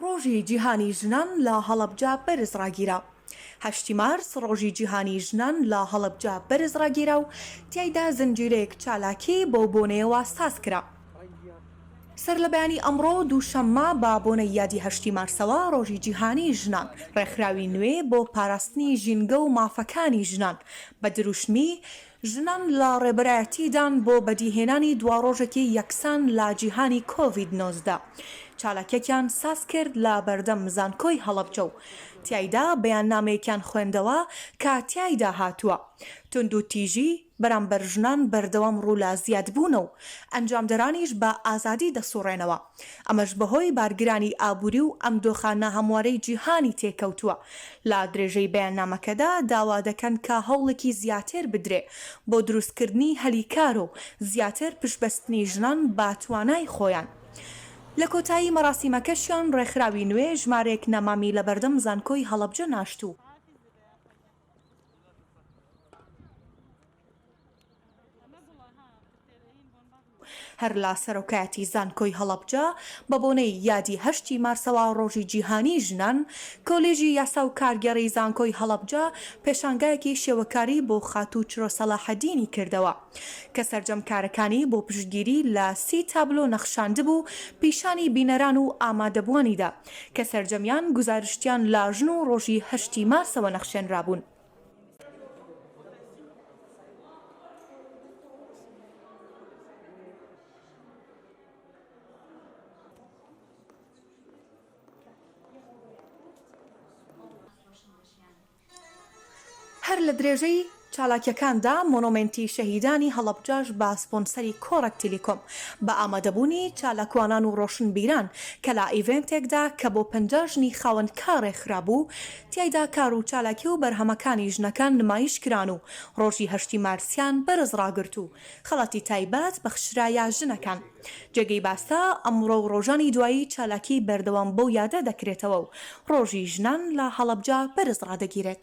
ڕۆژی جیهانی ژنان لە هەڵەبجە بەرز ڕاگیرا هەشتی مارس ڕۆژی جیهانی ژنان لە هەڵەبجە بەرز ڕاگیرا و تیایدا زنجیرەیەک چالاکی بەو بۆنەیەوە ساز کرا. سەرلەبەیانی ئەمڕۆ دووشەممە بە بۆنەی یادی هەشتی مارسەوە ڕۆژی جیهانی ژنان ڕێکخراوی نوێ بۆ پاراستنی ژینگە و مافەکانی ژنان بە دروشمی، ژنان لە ڕێبەرایەتیدان بۆ بەدیهێنانی دواڕۆژێکی یەکسان لە جیهانی کۆڤید نۆزدە، چالاکیەکیان سازکرد لە بەردەم زانکۆی هەڵەبجە و تیایدا بەیاننامەیەکیان خوێندەوە کە تیایدا هاتووە، توندوتیژی بەرامبەر ژنان بەردەوام ڕوو لە زیادبوونە و ئەنجامدەرانیش بە ئازادی دەسوڕێنەوە. ئەمەش بەهۆی بارگرانی ئابووری و ئەم دۆخە ناهەموارەی جیهانی تێکەوتووە. لە درێژەی بەیاننامەکەدا داوا دەکەن کە هەوڵێکی زیاتر بدرێ بۆ دروستکردنی هەلی کار و زیاتر پشتبەستنی ژنان بە توانای خۆیان. لە کۆتایی مەراسیمەکەشیان ڕێکخراوی نوێ ژمارەیەک نەمامی لە بەردەم زانکۆی هەڵەبجە ناشتوو. هەر لە سەرۆکایەتی زانکۆی هەڵەبجە بە بۆنەی یادی هەشتی مارسەوە ڕۆژی جیهانیی ژنان، کۆلێژی یاسا و کارگێڕیی زانکۆی هەڵەبجە پێشانگایەکی شێوەکاری بۆ خاتوو چرۆ سەلاحەدینی کردەوە کە سەرجەم کارەکانی بۆ پشتگیری لە سی تابلۆ نەخشاندبوو پیشانی بینەران و ئامادەبووانی دا کە سەرجەمیان گوزارشتیان لە ژن و ڕۆژی هەشتی مارسەوە نەخشێنرابوون. هەر لە درێژەی چالاکیەکاندا مۆنۆمێنتی شەهیدانی هەڵەبجەش بە سپۆنسەری کۆڕەک تیلیکۆم بە ئامادەبوونی چالاکوانان و ڕۆشنبیران کە لە ئیڤێنتێکدا کە بۆ پەنجا ژنی خاوەن کارێ خرابوو تیایدا کار و چالاکی و بەرهەمەکانی ژنەکان نمایش کران و ڕۆژی هەشتی مارسیان بەرز ڕاگرت و خەڵاتی تایبەت بەخشرایە ژنەکان. جێگەی باسە ئەمڕۆ و ڕۆژانی دوایی چالاکی بەردەوام بەو یادە دەکرێتەوە و ڕۆژی ژنان لە هەڵەبجە بەرز ڕادەگیرێت.